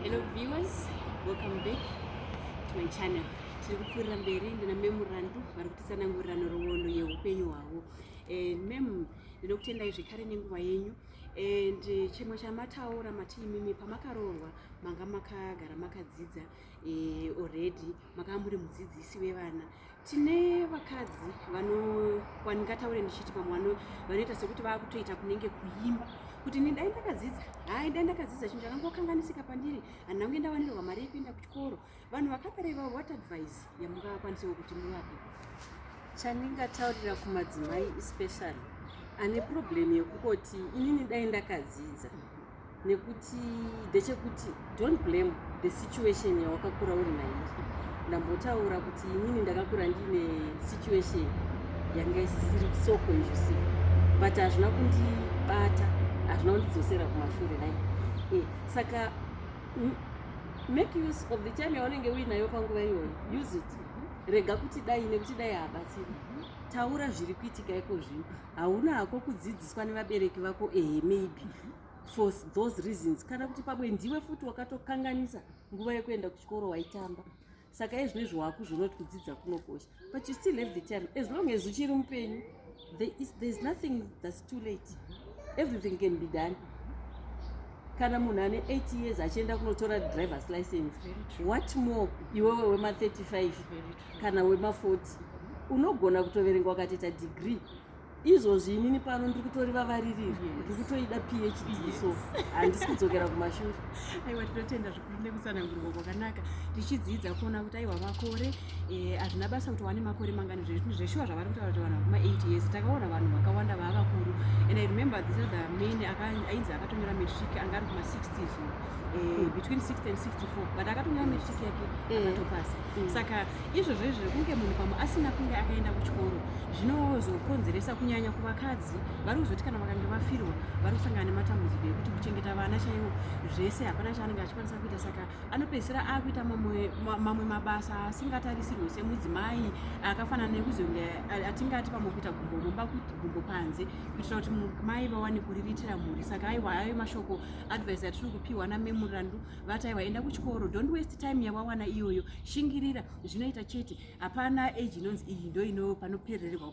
Hello viewers, welcome back to my channel. Tiri kupfuurira mberi ndina memu Randu vari kutisanangurira nhoroondo yeupenyu hwavo. Eh, memu ndinokutendai zvekare nenguva yenyu and eh, chimwe chamataura mati imimi pamakaroorwa manga makagara makadzidza eh, already makava muri mudzidzisi wevana tine vakadzi vanowani ngataure ndichiti pamwe vano vanoita sekuti vakutoita kunenge kuimba kuti ini dai ndakadzidza hai dai ndakadzidza chinhu chakangokanganisika pandiri handina kunge ndawanirwa mari yekuenda kuchikoro vanhu vakadaro ivavo what advice yamungavakwanisawo kuti muvape chandingataurira kumadzimai especially ane problem yekungoti inini dai ndakadzidza nekuti ndechekuti don't blame the situation yawakakura uri nairi ndambotaura kuti inini ndakakura ndiine situation yanga isiri so conducive but hazvina kundibata hazvina kundidzosera kumashure nai eh, saka make use of the time yaunenge uinayo panguva iyoyo use it rega kuti dai nekuti dai haabatsiri taura zviri kuitika iko zvino hauna hako kudzidziswa nevabereki vako ehe maybe for those reasons kana kuti pamwe ndiwe futi wakatokanganisa nguva yekuenda kuchikoro waitamba saka izvino izvo wakuzvonoti kudzidza kunokosha but you still have the time as long as uchiri mupenyu there is, there is nothing thats too late everything can be done kana munhu ane 8 years achienda kunotora drivers license what more iwewe wema 35 kana wema 40 unogona kutoverenga wakatoita degree izvozvi inini pano ndiri kutori vavaririri ndiri kutoida phd so handisi kudzokera kumashure aiwa tinotenda zvikuru nekutsanangurwa kwakanaka tichidzidza kuona kuti aiwa makore eh, hazvina basa kuti wane makore mangani zveshuwa zvavari kutaura kuti vanhu vakuma 8 years takaona vanhu vakawanda vaa vakuru and i remember this other man ainzi akatonyora matric anga ari kuma 60 so eh, between 60 and 64 but akatonyora matric yake eh. akatopasa mm. saka izvozvo izvo zvekunge munhu pamwe asina kunge akaenda kuchikoro zvinozokonzeresa kunyanya kuvakadzi vari kuzoti kana vakange vafirwa vari kusangana nematambudziko ekuti kuchengeta vana chaivo zvese hapana chaanenge achikwanisa kuita saka anopedzisira akuita mamwe mabasa asingatarisirwe semudzimai akafanana nekuzonge atingati pamwe kuita gumbo mumba gumbo panze kuitira kuti mai vawane kuriritira mhuri saka aiwa ayo mashoko advice atiri kupiwa namemurandu vati aiwa enda kuchikoro don't waste time yawawana iyoyo shingirira zvinoita chete hapana age inonzi iyi ndo ino panoperererwa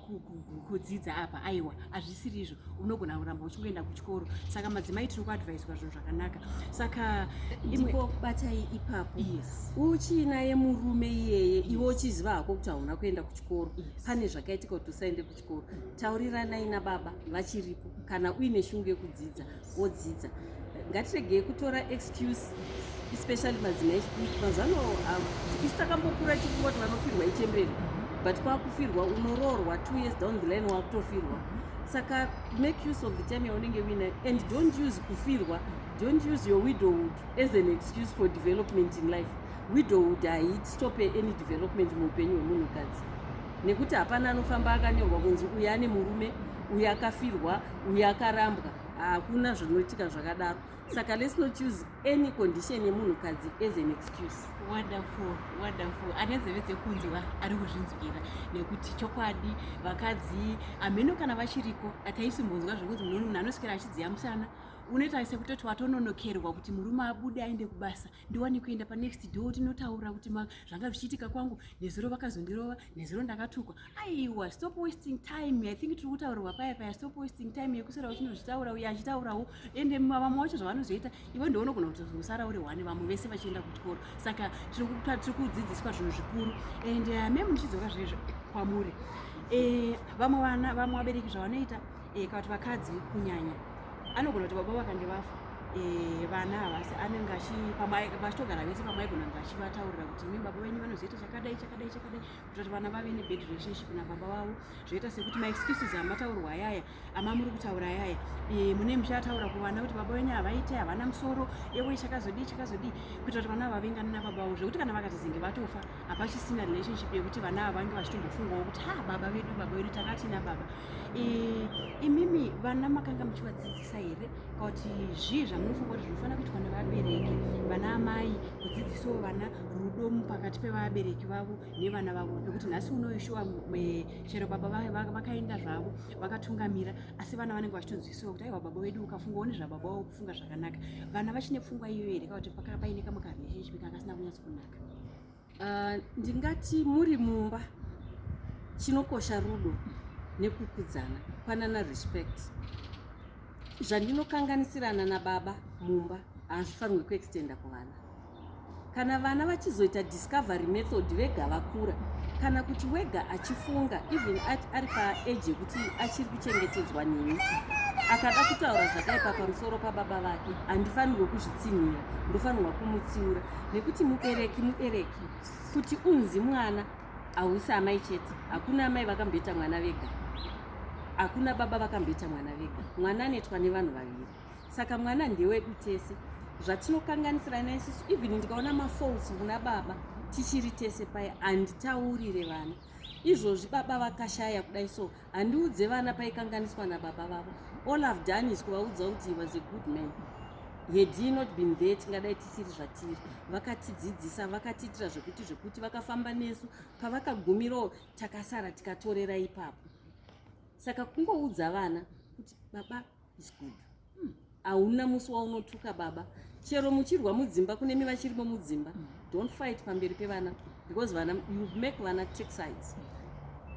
kudzidza apa aiwa hazvisiri izvo unogona kuramba uchingoenda kuchikoro saka madzimai tiri kuadvaiswa zvinhu zvakanaka saka ndipo batai ipapo yes. uchinaye murume iyeye yes. iwe uchiziva hako kuti hauna kuenda kuchikoro yes. pane zvakaitika kuti usaende kuchikoro Ko, tauriranai nababa vachiripo kana uine shungu yekudzidza wodzidza ngatiregei kutora excuse especially madzimai echidiki mazuva ano um, isu takambokura tichifunga kuti vanofirwa ichembere but kwakufirwa unoroorwa two years down the line wakutofirwa saka make use of the time yaunenge uinayo and don't use kufirwa don't use your widowhood as an excuse for development in life widowhood haitope any development muupenyu hwemunhukadzi nekuti hapana anofamba akanyorwa kunzi uyu ane murume uyu akafirwa uyu akarambwa hakuna zvinoitika zvakadaro saka let's not use any condition yemunhukadzi as an excuse wonderful wonderful ane zeve dzekunzwa ari kuzvinzwira nekuti chokwadi vakadzi hameno kana vachiriko ataisimbonzwa zvekunzi munhu anoswera achidziya musana unoita sekutoti watononokerwa kuti murume abude aende kubasa ndiwane kuenda panext door tinotaura kuti zvanga zvichiitika kwangu nezuro vakazondirova nezuro ndakatukwa aiwa stop wasting time i think tiri kutaurirwa paya paya stop wasting time yekusara uchinozvitaura uye achitaurawo ende vamwe wacho zvavanozoita iwe ndounogona kutozosara uri one vamwe vese vachienda kuchikoro saka tiri kudzidziswa zvinhu zvikuru and uh, mem ndichidzoka zvezvo kwamuri eh, vamwe vana vamwe vabereki zvavanoita eh, kana kuti vakadzi kunyanya anogona kuti baba vakange vafa eh, vana havasi anenge achipamavachitogara vese pamwe aigonanga achivataurira kuti imi baba venyu vanozoita chakadai chakadai chakadai kuita kuti vana vave nebad relationship nababa vavo zvoita sekuti maexcuses amataurwa ayaya amamuri kutaura ayaya eh, mune muchataura kuvana kuti baba venyu havaite havana musoro ewe chakazodii chakazodii kuita kuti vana vavengane nababa vavo zvekuti kana vakatizenge vatofa hapachisina relationship yekuti vana ava vange vachitombofungawo kuti ha baba vedu baba vedu takatina baba imimi vana makanga muchivadzidzisa here kana kuti zvii zvamunofunga kuti zvinofanira kuitwa nevabereki vana amai kudzidzisawo vana rudo pakati pevabereki vavo nevana vavo nekuti nhasi unoyu shuwa chero baba vakaenda zvavo vakatungamira asi vana vanenge vachitonzwisiwa kuti aiwa baba vedu ukafunga one zvababa wavo kufunga zvakanaka vana vachine pfungwa iyoyo here kana kuti paine kamwe karelationship kanga kasina kunyatso kunaka Uh, ndingati muri mumba chinokosha rudo nekukudzana panana respect zvandinokanganisirana nababa mumba hazvifanirwe kuextenda kuvana kana vana vachizoita discovery method vega vakura kana kuti wega achifunga even ari paage yekuti achiri kuchengetedzwa neni akada kutaura zvakaipa pamusoro pababa vake handifanirwe kuzvitsinhira ndofanirwa kumutsiura nekuti mubereki mubereki kuti unzi mwana hausi amai chete hakuna amai vakamboita mwana vega hakuna baba vakamboita mwana vega mwana anoitwa nevanhu vaviri saka mwana ndewedu tese zvatinokanganisirana isusu even ndikaona mafaults kuna baba tichiri tese paye handitaurire vana izvozvi baba vakashaya kudai so handiudze vana paikanganiswa nababa vavo all have done is kuvaudza kuti he was a good man had he not been there tingadai tisiri zvatiri vakatidzidzisa vakatiitira zvekuti zvekuti vakafamba nesu pavakagumirawo takasara tikatorera ipapo saka kungoudza vana kuti baba It's good. Hmm. Hauna musi waunotuka baba. Chero muchirwa mudzimba kune mi vachirimo mudzimba. Hmm. Don't fight pamberi pevana because vana you make vana take sides.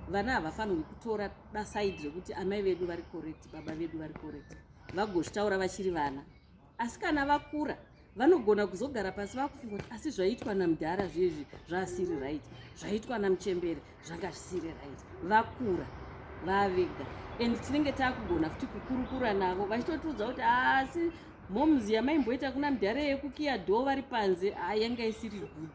Vana havafanirwi kutora da side rekuti amai vedu vari correct, baba vedu vari correct. Vagozvitaura vachiri vana. asi kana vakura vanogona kuzogara pasi vakufunga kuti asi zvaitwa namudhara zviezvi zvaasiri right zvaitwa namuchembere zvanga zvisiri right vakura vavega and tinenge takugona futi kukurukura navo vachitotiudza kuti asi moms yamaimboita kuna mudhara yekukiya dho vari panze yanga isiri good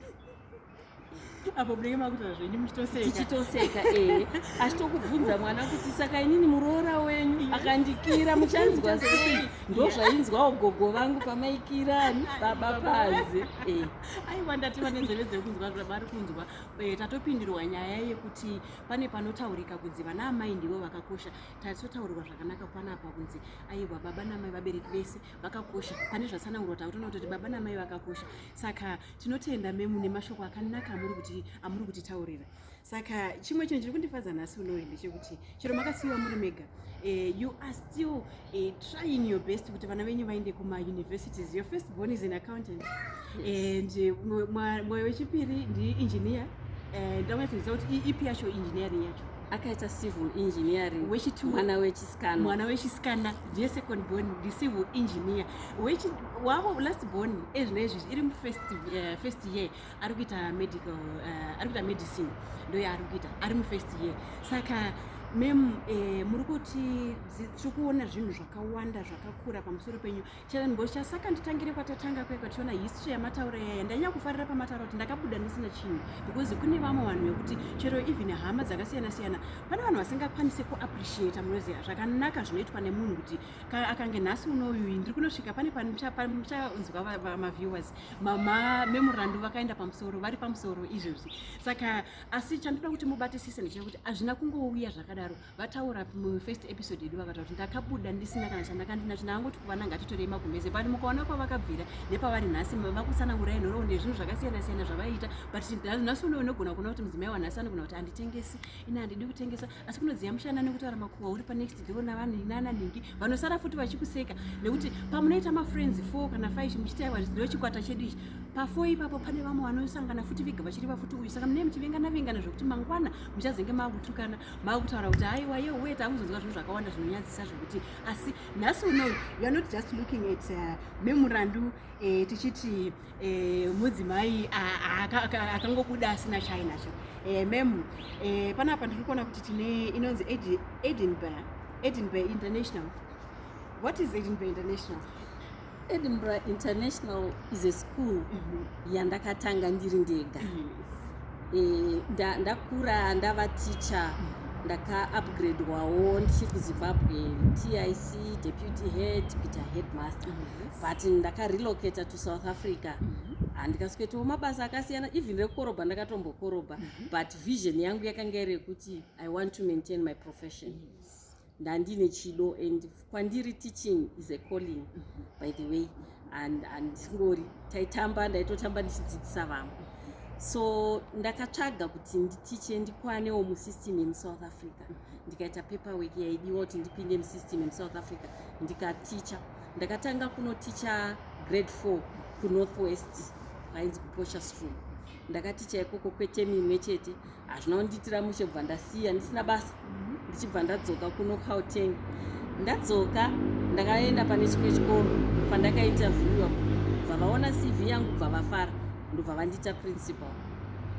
apo munenge makutoa zvenyu muchitosekachichitoseka ee achitokubvunza mwana kuti saka inini muroora wenyu akandikira muchanzwa sei ndo zvainzwawo gogo vangu pamaikira baba pazi ee aiwa ndati vane nzeve dzekunzwa zvavari kunzwa eh, tatopindirwa nyaya yekuti pane panotaurika kunzi vana amai ndivo vakakosha tatotaurirwa zvakanaka panapa kunzi aiwa baba namai vabereki vese vakakosha pane zvatsanangurwa takutoona kutoti baba namai vakakosha saka tinotenda memu nemashoko akanaka amuri kuti amuri kutitaurira saka chimwe chinhu chiri kundifadza nhasi unoi ndechekuti chero makasiyiwa muri mega eh, you are still eh, trying your best kuti vana venyu vaende kumauniversities your first born is an accountant and eh, mwoyo wechipiri ndiengineer ndamwe kuti ipi yacho engineering yacho akaita civil engineering mwana wechisikana mwana wechisikana ndiye second born ndi civil engineer wavo last born ezvina izvizvi iri mufirst eh, first year ari kuita medical eh, ari kuita medicine ndoyaari kuita ari mufirst year saka mem eh, muri kuti tiri kuona zvinhu zvakawanda zvakakura pamusoro penyu Chero mbosha saka nditangire kwatatanga kwe kwationa history yamataura yaya ndanyanya kufarira pamataura kuti ndakabuda ndisina chinhu because kune vamwe vanhu vekuti chero even hama dzakasiyana siyana pane vanhu vasingakwanise kuappreciata munoziva zvakanaka zvinoitwa nemunhu kuti akange nhasi unouyu ndiri kunosvika pane pamuchanzwa maviewers mamemorandu vakaenda pamusoro vari pamusoro izvozvi saka asi chandoda kuti mubatisise ndechekuti hazvina kungouya zvakadaro vataura mufirst episode yedu vakataura kuti ndakabuda ndisina kana chandakandinacho ndakangoti kuvana ngatitorei magumbeze but mukaona kwavakabvira nepavari nhasi vakutsanangura inhoroondo yezvinhu zvakasiyana siyana zvavaiita but nhasi uno unogona kuona kuti mudzimai wanhasi anogona kuti handitengesi ina handidi kutengesa asi kunodziya mushana nekutaura makuhwa uri panext door navanhu inana nhingi vanosara futi vachikuseka nekuti pamunoita mafriends four kana five muchitaiwa ndo chikwata chedu ichi pafo ipapo pane vamwe vanosangana futi vega vachiri vafuti uyu saka munee muchivengana vengana zvekuti mangwana muchazenge maakutukana makutaura kuti haiwa ye uye takuzonzwa zvinhu zvakawanda zvinonyadzisa zvekuti asi nhasi uno youare not just looking at uh, memurandu eh, tichiti eh, mudzimai akangobuda asina chainacho eh, mem eh, panapa ndiri kuona kuti tine inonzi edinburgh edinburgh international what is edinburgh international Edinburgh International is a school mhm. yandakatanga ndiri ndega eh, ndakura ndava teacher mhm. ndakaupgradwawo ndichiri kuzimbabwe tic deputy head kuita headmaster mhm. but ndakarelocata to south africa handikaswetawo mabasa akasiyana even rekukoroba ndakatombokoroba but vision yangu yakanga iri yekuti i want to maintain my profession yes. ndandine chido and kwandiri teaching is a calling by the way and andingori taitamba ndaitotamba ndichidzidzisa vamwe so ndakatsvaga kuti nditiche ndikwanewo musystem yemusouth africa ndikaita paper work yaidiwa kuti ndipinde musystem yemusouth africa ndikaticha ndakatanga kunoticha grade four kunorth west kwainzi kuposha school ndakaticha ikoko kwetemi imwe chete hazvina kundiitira mushe bva ndasiya ndisina basa mhm. ndichibva ndadzoka kuno gauteng ndadzoka ndakaenda pane chimwe chikoro pandakaita viewa bva vaona cv yangu bva vafara ndobva vandiita principal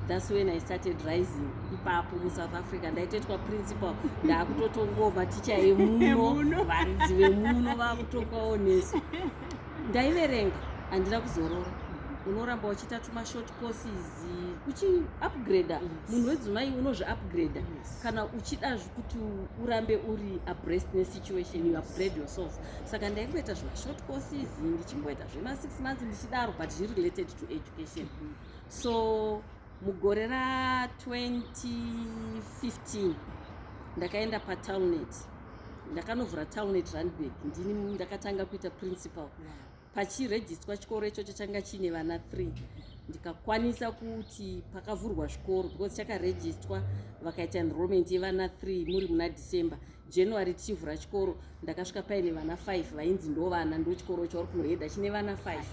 thats when i started rising ipapo musouth africa ndaitoitwa principal ndaakutotongawo maticha emuno varidzi vemuno vaakutokwawo nesu ndaiverenga handina kuzorora unoramba uchiita tumashort courses uchiupgrader munhu wedzimai unozviupgrader kana uchida kuti urambe uri abreast nesituation you upgrade yourself saka ndaimboita zvimashort courses ndichimboita zvema6 months ndichidaro but zviri related to education so mugore ra 2015 ndakaenda patownet ndakanovhura townet randburg ndini ndakatanga kuita principal pachirejistwa chikoro ichocho changa chiine vana three ndikakwanisa kuti pakavhurwa zvikoro because chakarejistwa vakaita enrollment yevana three muri muna december january tichivhura chikoro ndakasvika paine vana five vainzi ndo vana ndo chikoro chauri kunohedha chine vana five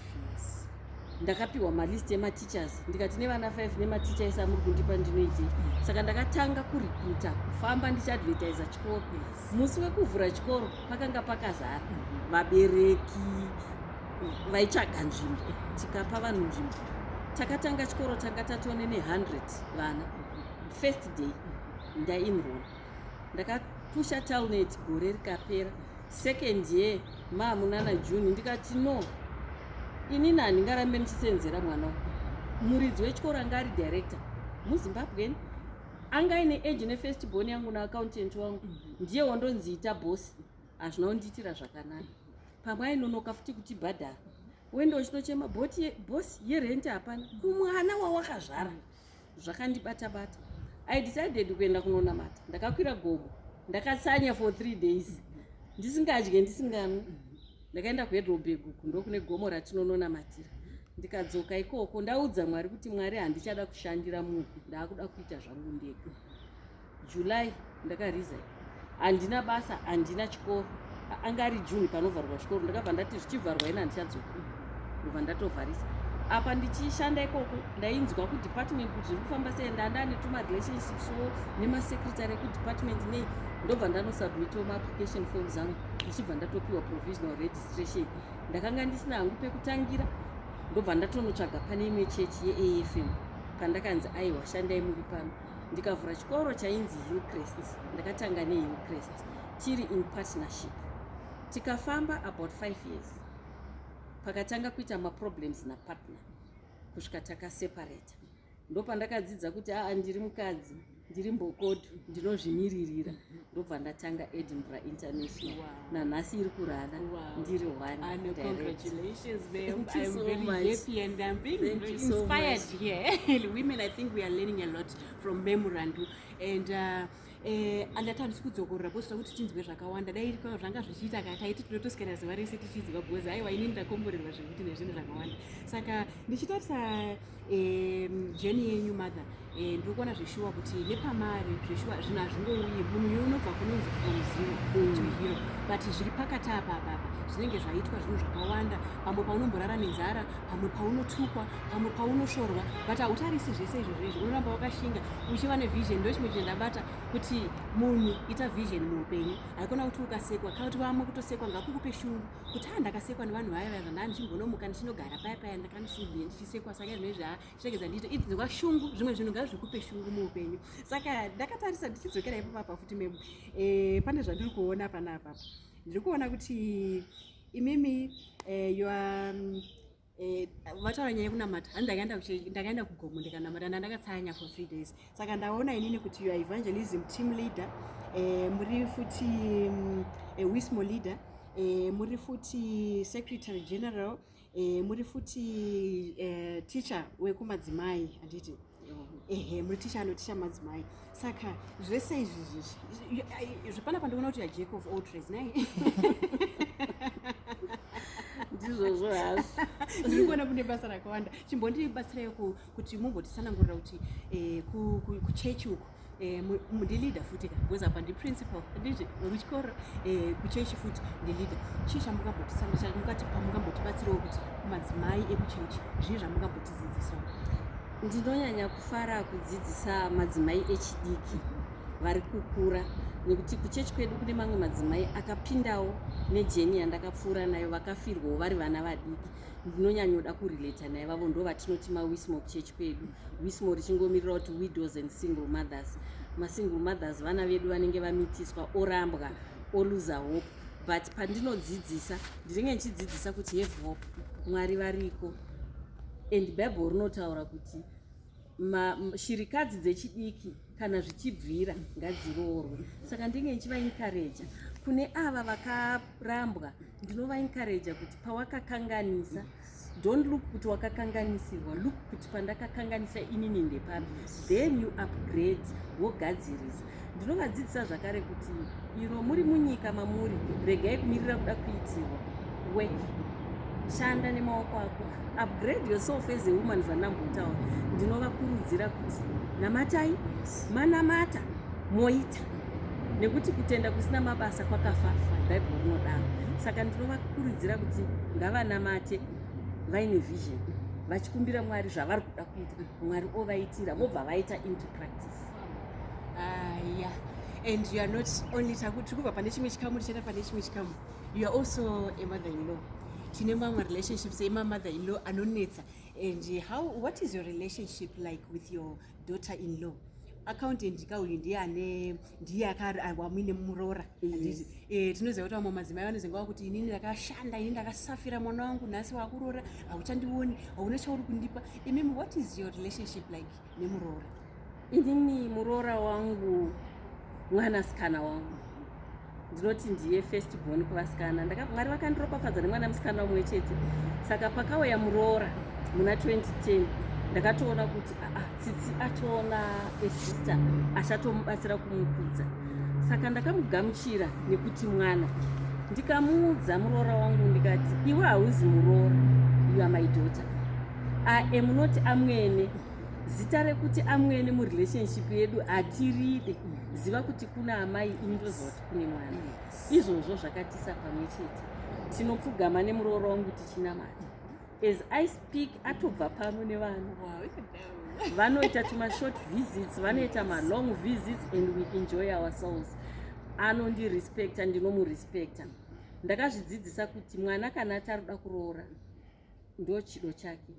ndakapiwa malist emateachers ndikati nevana five nematicha ese amuri kundipa ndinoitei saka ndakatanga kurekruta kufamba ndichiadvertisa chikoro Musi wekuvhura chikoro pakanga pakazara vabereki vaitsvaga nzvimbo tikapa vanhu nzvimbo takatanga chikoro tanga tatone ne 100 vana first day ndainroll ndakapusha talnet gore rikapera second year maamunana june ndikati no ini nani ngarambe ndichisenzera mwana muridzi wechikoro anga ari director muzimbabweni anga ine age nefirst born yangu naaccountant wangu ndiye wondonziita bosi hazvina kundiitira zvakanaka pamwe ainonoka futi kutibhadhara wende uchitochema bosi yerenti hapana kumwana wawakazvara zvakandibata bata i decided kuenda kunonamata ndakakwira gomo ndakatsanya for three days ndisingadye ndisinganwi ndakaenda kuhedrobhegu ndokune gomo ratinononamatira ndikadzoka ikoko ndaudza mwari kuti mwari handichada kushandira munhu ndaakuda kuita zvangu ndega july ndakariza handina basa handina chikoro anga ari june panovharwa chikoro ndakabva ndati zvichivharwa ina handichadzoka ndobva ndatovharisa apa ndichishanda ikoko ndainzwa kudepartment kuti zviri kufamba sei ndandaa netuma relationships wo nemasecretary ekudepartment nei ndobva ndanosubmito maapplication form zangu ndichibva ndatopiwa provisional registration ndakanga ndisina hangu pekutangira ndobva ndatonotsvaga pane imwe chechi yeafm pandakanzi aiwa shandai muri pano ndikavhura chikoro chainzi hillcrest ndakatanga nehillcrest tiri in partnership tikafamba about five years pakatanga kuita maproblems napartner kusvika takaseparata ndopandakadzidza kuti aa ndiri mukadzi ndiri mbokodo ndinozvimiririra ndobva ndatanga edinburgh international wow. nanhasi iri kurara wow. ndiri onememorandu and uh, Eh, andatandisi kudzokorora bcause takuti tinzwe zvakawanda dai irikwa zvanga zvichiita ka taiti tinotosikana zuva rese tichiziva bcause aiwa inini ndakomborerwa zvekuti nezvinhu zvakawanda saka ndichitarisa jeni yenyu mother eh, ndiri kuona zveshuwa kuti nepamari zveshuwa zvinhu hazvingouyi munhu uyu unobva kunonzi from zero to mm. hero but zviri pakati apa apapa zvinenge zvaitwa zvinhu zvakawanda pamwe paunomborara nenzara pamwe paunotukwa pamwe paunoshorwa but hautarisi zvese izvozvo izvo unoramba wakashinga uchiva nevision ndo chimwe chendabata kuti munhu ita vision muupenyu haikona kuti ukasekwa kana kuti vamwe kutosekwa ngakukupe shungu kuti haa ndakasekwa nevanhu vaya vaya zvandaa ndichimbonomuka ndichinogara paya paya ndakandisubie ndichisekwa saka izvine zva chinenge zvandiita ii ndinzwa shungu zvimwe zvinhu ngazvikupe shungu muupenyu saka ndakatarisa ndichidzokera ipapapa futi mem eh, pane zvandiri kuona panapapa ndiri kuona kuti imimi eh, yoa Eh, vataura nyaya yekunamata handi ndakaenda kugomo ndikanamata ndandakatsanya for three days saka ndaona inini kuti your evangelism team leader eh, muri futi mm, eh, wismo leader muri futi secretary general muri futi teacher wekumadzimai handiti ehe muri ticha anoticha madzimai saka zvese izvi zvichi zvepana pandikuona kuti yajack of all trades nai ndizvozvo hazvo ndiri kuona kune basa rakawanda chimbondibatsirayo kuti mumbotisanangurira kuti eh, kuchechi uku Eh, ndileader futi ka because apa ndiprincipal anditi wekuchikoro eh, kuchechi futi ndileader chii chamungambotisandicha mukatipa mungambotibatsirawo kuti madzimai ekuchechi zvii zvamungambotidzidzisa ndinonyanya kufara kudzidzisa madzimai echidiki vari kukura nekuti kuchechi kwedu kune mamwe madzimai akapindawo nejeni yandakapfuura nayo vakafirwawo vari vana vadiki ndinonyanyoda kurelata naivavo ndo vatinoti mawismo kuchechi kwedu wismo richingomirira kuti widows and single mothers masingle mothers vana vedu vanenge vamitiswa orambwa oluza hope but pandinodzidzisa ndinenge ndichidzidzisa kuti have hope mwari variko and bible rinotaura kuti shirikadzi dzechidiki kana zvichibvira ngadziroorwe saka ndinge ndichivainkareja kune ava vakarambwa ndinovainkareja kuti pawakakanganisa don't look kuti wakakanganisirwa look kuti pandakakanganisa inini ndepapi then you upgrade wogadzirisa Ndinovadzidzisa zvakare kuti iro muri munyika mamuri, regai kumirira kuda kuitirwa. Work. Shanda nemaoko ako. Upgrade yourself as a woman zvandambotaura. Ndinovakurudzira kuti namatai, manamata, moita. Nekuti kutenda kusina mabasa kwakafafa, Bible rinodaro. Saka ndinovakurudzira kuti ngavanamate vaine vision vachikumbira Mwari zvavari kuda kuita, Mwari ovaitira vobva vaita into practice. ah, yeah. and you are not only takuti kubva pane chimwe chikamu tichaenda pane chimwe chikamu you are also a mother in law tine mamwe relationships emamother in law anonetsa and how what is your relationship like with your daughter in law accountant ka uyu ndiye ane ndiye akawamuine muroora eh, tinoziva kuti vamwe madzimai vanozenge wakuti inini ndakashanda ini ndakasafira mwana wangu nhasi wakuroora hauchandioni hauna chauri kundipa imimi what is your relationship like nemuroora inini muroora wangu mwanasikana wangu ndinoti ndiye first born kuvasikana mwari vakandiropafadza nemwana musikana umwe chete saka pakauya muroora muna 2010 ndakatoona kuti aa tsitsi atoona esister achatomubatsira kumukudza saka ndakamugamuchira nekuti mwana ndikamuudza muroora wangu ndikati iwe hauzi muroora yuamaidoter I am not amwene zita rekuti amwene murelationship yedu hatiride ziva kuti kuna amai ini ndoziva kuti kune mwana izvozvo zvakatisa pamwe chete tinopfugama nemuroora wangu tichinamata as i speak atobva pano nevana vanoita tumashort visits vanoita malong visits and we enjoy ourselves anondirespecta ndinomurespecta ndakazvidzidzisa kuti mwana kana ati ari kuda kuroora ndochido chake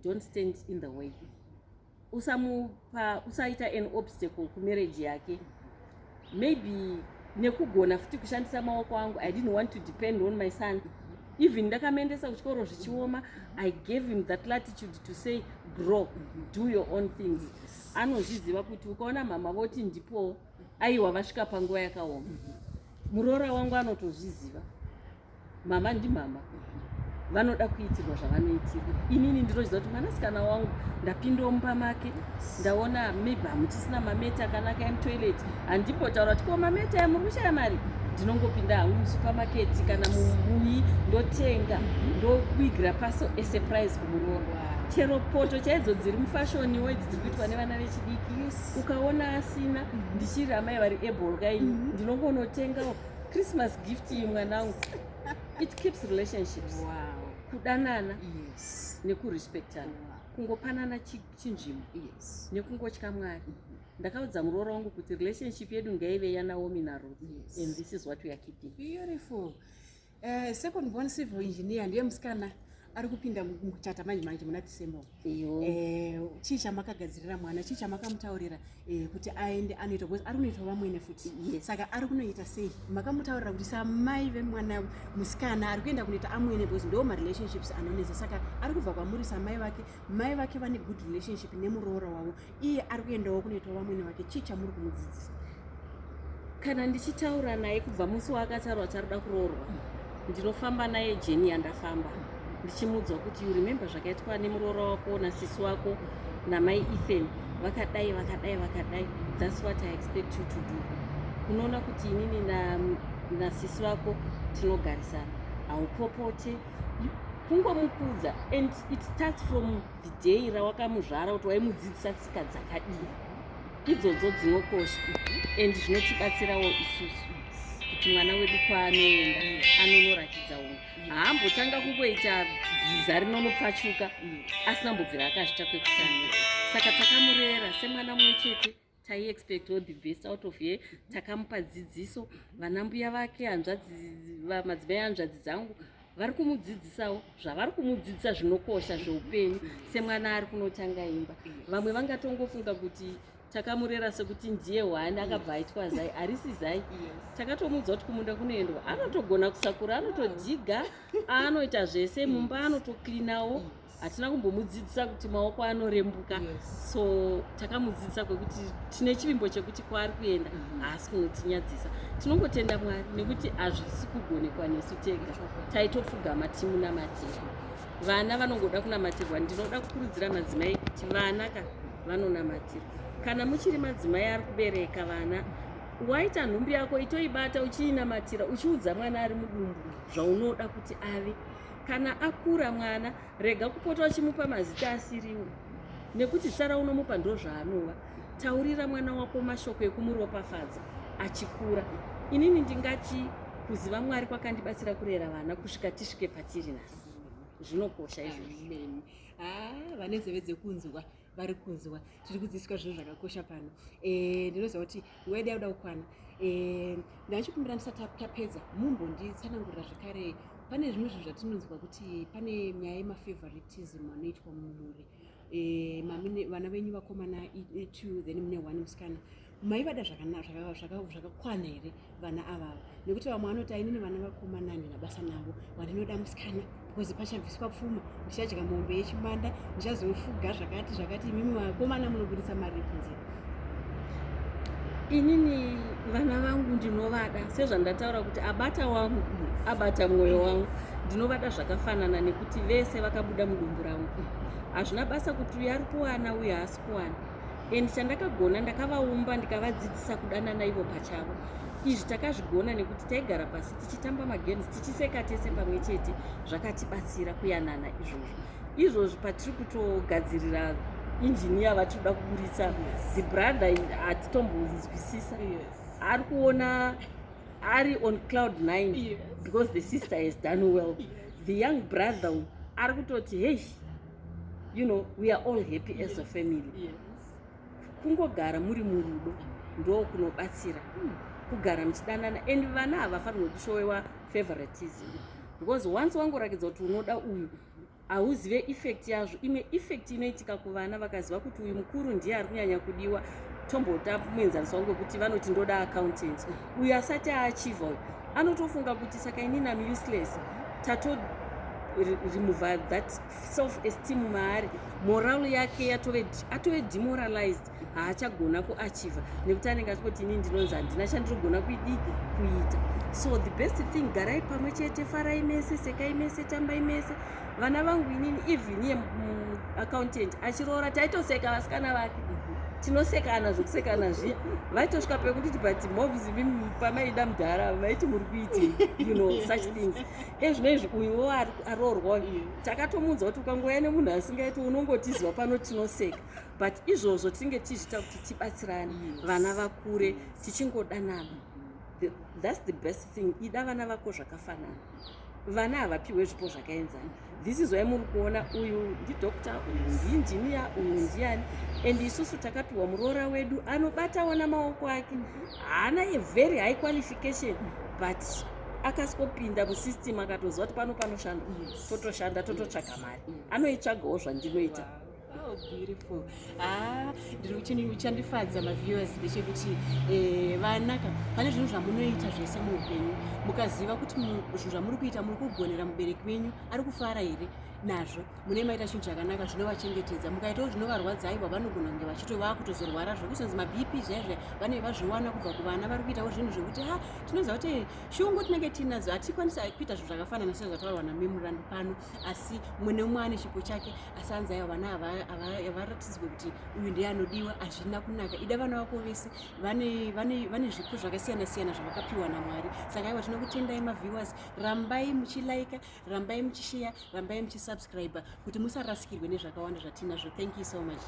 don't stand in the way usamupa usaita an obstacle kumarriage yake maybe nekugona futi kushandisa maoko angu i didn't want to depend on my son even ndakamuendesa kuchikoro zvichioma i gave him that latitude to say grow do your own things anozviziva kuti ukaona mhama voti ndipoo aiwa vasvika panguva yakaoma muroora wangu anotozviziva mama ndimama vanoda kuitirwa zvavanoitirwa inini ndinoziva kuti mwanasikana wangu ndapindawo mumba make ndaona maybe hamuchisina mameti akanaka emutoilet handimbotaura kuti ko mameti aya muri kushaya mari ndinongopinda hangu musupamaketi kana mumuyi ndotenga ndokuigira paso esurprise kumuroorwa chero poto chaidzo dziri mufashoniwo idzi dziri kuitwa nevana vechidiki ukaona asina ndichiri amai vari able kai mhm. ndinongonotengawo Christmas gift iyi mwanangu. It keeps relationships. Wow. Kudanana. Yes. Nekurespectana. Wow. Kungopanana chinzvimbo. Yes. Nekungotya Mwari. Mm -hmm. ndakaudza muroora wangu kuti relationship yedu ngaive yanaomi naruth yes. and this is what we are keeping beautiful uh, second born civil engineer ndiye musikana ari kupinda muchata manje manje muna december Eh, chii chamakagadzirira mwana chii chamakamutaurira eh, kuti aende anoita bcause ari kunoitwa vamwene futi saka ari kunoita sei makamutaurira kuti samai vemwana musikana ari kuenda kunoita amwene bcause ndo marelationships anonetsa saka ari kubva kwamuri samai vake mai vake vane good relationship nemuroora wavo iye ari kuendawo kunoitawo vamwene vake chii chamuri kumudzidzisa kana ndichitaura naye kubva musi waakatarwa tarida kuroorwa ndinofamba naye jeni yandafamba ndichimuudzwa kuti you remember zvakaitwa nemuroora wako nasisi wako namai ethan vakadai vakadai vakadai thats what i expect you to do unoona kuti inini nasisi vako tinogarisana haupopote kungomukudza and it starts from Day rawakamuzvara kuti waimudzidzisa tsika dzakadii idzodzo dzinokosha and zvinotibatsirawo isusu kuti mwana wedu kwaanoenda anonoratidza unhu haambotanga kungoita bhiza rinonopfachuka asina mbobvira akazvita kwekutanga saka takamurera semwana mumwe chete tai expect all the best out of here takamupa dzidziso vana mbuya vake hanzvadzi madzimai hanzvadzi dzangu vari kumudzidzisawo zvavari kumudzidzisa zvinokosha zveupenyu semwana ari kunotanga imba vamwe vangatongofunga kuti takamurera sekuti ndiye hwani akabva aitwa zai harisi zai takatomuudza kuti kumunda kunoendwa anotogona kusakura anotodhiga anoita zvese mumba anotoclinawo hatina kumbomudzidzisa kuti maoko anorembuka yes. so takamudzidzisa kwekuti tine chivimbo chekuti kwaari kuenda mhm. haasi mm -hmm. kunotinyadzisa tinongotenda mwari nekuti hazvisi kugonekwa nesu tega taitopfugama timunamatira vana vanongoda kunamatirwa ndinoda kukurudzira madzimai kuti vana ka vanonamatirwa kana muchiri madzimai ari kubereka vana waita nhumbi yako itoibata uchiinamatira uchiudza mwana ari mudumbu zvaunoda kuti ave kana akura mwana rega kupota uchimupa mazita asiriwo nekuti tsara unomupa ndozvaanova taurira mwana wako mashoko ekumuropafadza achikura inini ndingati kuziva mwari kwakandibatsira kurera vana kusvika tisvike patiri nhasi zvinokosha izvozvo ah, vane zeve dzekunzwa vari kunzwa tiri kudzidziswa zvinhu zvakakosha pano eh, ndinoziva kuti nguva yedu yakuda kukwana eh, ndachikumbira ndisati tapedza mumbonditsanangurira zvekare pane zvimwe zvinhu zvatinonzwa kuti pane nyaya yemafavoritism anoitwa mumhuri eh, vana venyu vakomana two then mune one musikana maivada zvakakwana here vana avava nekuti vamwe vanoti ainini vana vakomana ndina basa navo wandinoda musikana because pachabviswa pfuma ndichadya mombe yechimanda ndichazofuga zvakati zvakati imimi vakomana munobudisa mari kunze inini vana vangu ndinovada sezvandataura kuti abata wangu abata mwoyo wangu ndinovada zvakafanana nekuti vese vakabuda mudumbu rangu hazvina basa kuti uyu ari kuwana uyu haasi kuwana and chandakagona ndakavaumba ndikavadzidzisa kudanana ivo pachavo izvi takazvigona nekuti taigara pasi tichitamba magames tichiseka tese pamwe chete zvakatibatsira kuyanana izvozvo izvozvi patiri kutogadzirira injiniya vatiri kuda kuburitsa the brother hatitombonzwisisa ari kuona ari on cloud 9 because the sister has done well the young brother ari kutoti hei you know we are all happy yes. as a family yes. kungogara muri murudo ndo kunobatsira hmm. kugara muchidanana and vana havafanirwe kushowewa favoritism because once wangorakidza kuti unoda uyu hauzive effect yazvo imwe effect inoitika kuvana vakaziva kuti uyu mukuru ndiye ari kunyanya kudiwa tombota muenzaniso wangu wekuti vanoti ndoda accountant uyu asati aachiva uyu anotofunga kuti saka inini am useless tato remove that self esteem maari moral yake yatove atove demoralized haachagona kuachiva nekuti anenge achikoti ini ndinonzi handina chandirogona kuidii kuita so the best thing garai pamwe chete farai mese sekai mese tambai mese vana vangu inini even ye accountant achiroora taitoseka vasikana vake tinosekana zvekusekana zviya vaitosvika pekunditi but mobs imimi pamaida mudhara vaiti muri kuiti you know such things e zvino izvi uyuwo aroorwa takatomuudza kuti ukangouya nemunhu asingaiti unongotiziva pano tinoseka but izvozvo tinenge tichizviita kuti tibatsirane vana vakure tichingodanana that's the best thing ida vana vako zvakafanana vana havapihwe zvipo zvakaenzana this is why muri kuona uyu ndidoctor uyu ndiinjiniya uyu ndiani and isusu takapiwa muroora wedu anobatawo namaoko ake haana a very high qualification but akasikopinda musystem akatoziva kuti pano panoshanda totoshanda tototsvaga mari anoitsvagawo zvandinoita Oh, beautiful ah ndiri kuchini uchandifadza maviewers ndechekuti eh, vanaka pane zvinhu zvamunoita zvese muupenyu mukaziva kuti mu- zvinhu zvamuri kuita muri kugonera mubereki wenyu ari kufara here nazvo munee maita chinhu chakanaka zvinovachengetedza mukaitawo zvinovarwadza aiwa vanogona kunge vachito vakutozorwara zvekuzonzi mabp zvaizve vanenge vazviwana kubva kuvana vari kuitawo zvinhu zvekuti ha tinoziva kuti shungu tinenge tinadzo hatikwanisa kuita zvinhu zvakafanana sezvataurwa namemurandu pano asi umwe neumwe ane chipo chake asi hanzi aiwa vana havaratidzwe kuti uyu ndiye anodiwa hazvina kunaka ida vana vako vese vane zvipo zvakasiyana siyana zvavakapiwa namwari saka aiwa tinokutendai maviewers rambai muchilaika rambai muchisheya rambai muchisubscribe kuti musarasikirwe nezvakawanda zvatinazvo thank you so much